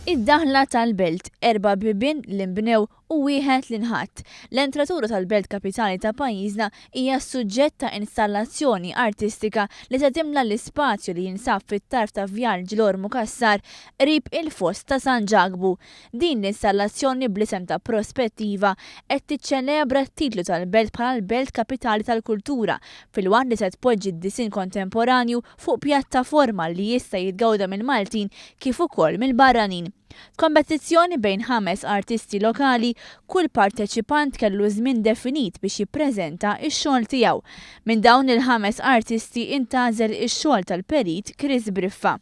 Id-daħla tal-belt, erba' bibien li nbnew u wieħed li nħatt. L-entratura tal-belt kapitali ta' pajjiżna hija s-suġġett ta' installazzjoni artistika li se timla l-ispazju li jinsab fit-tarf ta' Vjal Ġlor Mukassar qrib il-Foss ta' San Ġakbu. Din l-installazzjoni bl-isem ta' Prospettiva qed tiċċelebra t-titlu tal-belt bħala l-belt kapitali tal-kultura filwaqt li se tpoġġi d-disinn kontemporanju fuq pjattaforma li jista' jitgawda mill-Maltin kif ukoll mill-barranin. F'kompetizzjoni bejn ħames artisti lokali, kull parteċipant kellu żmien definit biex jippreżenta x-xogħol tiegħu. Minn dawn il-ħames artisti intgħażel ix-xogħol tal-perit Chris Briffa.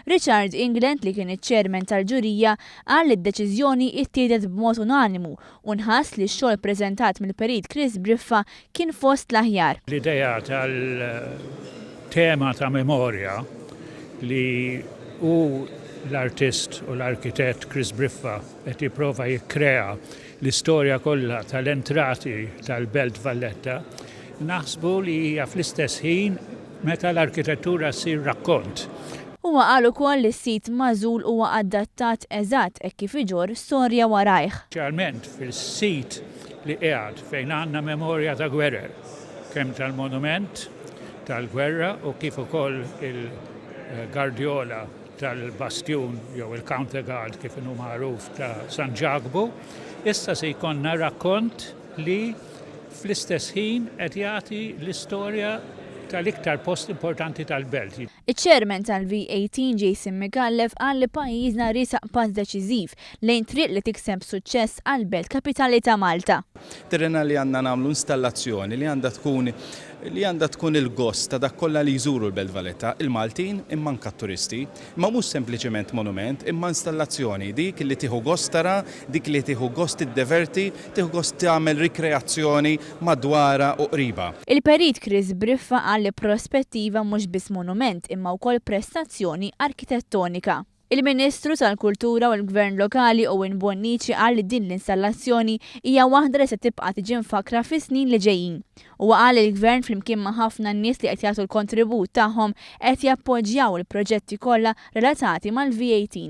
Richard England li kien iċ-chairman tal-ġurija qal li d-deċiżjoni ttieħdet b'mod unanimu u nħass li x-xogħol ppreżentat mill-perit Chris Briffa kien fost l-aħjar. L-idea tal-tema ta' memorja li hu l-artist u l-arkitett Chris Briffa qed jipprova jikkrea l-istorja kollha tal-entrati tal-Belt Valletta naħsbu li hija fl-istess ħin meta l-arkitettura ssir rakkont. Huwa qal ukoll li s-sit magħżul huwa adattat eżatt hekk kif iġorr storja warajh. Ċarment fis-sit li qiegħed fejn għandna memorja ta' gwerer, kemm tal-monument tal-gwerra u kif ukoll il-gardjola tal-bastjun jew il-counter guard kif inhu magħruf ta' San Ġakbu, issa se jkollna rakkont li fl-istess ħin qed jagħti l-istorja tal-iktar post importanti tal-belt. Iċ-Chairman tal-V18 Jason Micallef qal li pajjiżna riesaq pass deċiżiv lejn triq li tikseb suċċess għall-Belt Kapitali ta' Malta. Terena li għandna nagħmlu installazzjoni li għandha tkun li għandha tkun il-gost ta' dak kollha li jżuru l-Belt Valletta, il-Maltin imma anke t-turisti. Imma mhux sempliċement monument imma installazzjoni dik li tieħu gost tara, dik li tieħu gost tiddeverti, Tieħu gost tagħmel rikreazzjoni madwarha u qribha. Il-Perit Chris Briffa qal li Prospettiva mhux biss monument imma wkoll prestazzjoni arkitettonika. Il-Ministru tal-Kultura u l-Gvern Lokali Owen Bonnici qal li din l-installazzjoni hija waħda li se tibqa' tiġi mfakkra fis-snin li ġejjin. Huwa qal li l-Gvern flimkien ma' ħafna nies li qed jagħtu l-kontribut tagħhom qed jappoġġjaw il-proġetti kollha relatati mal-VAT.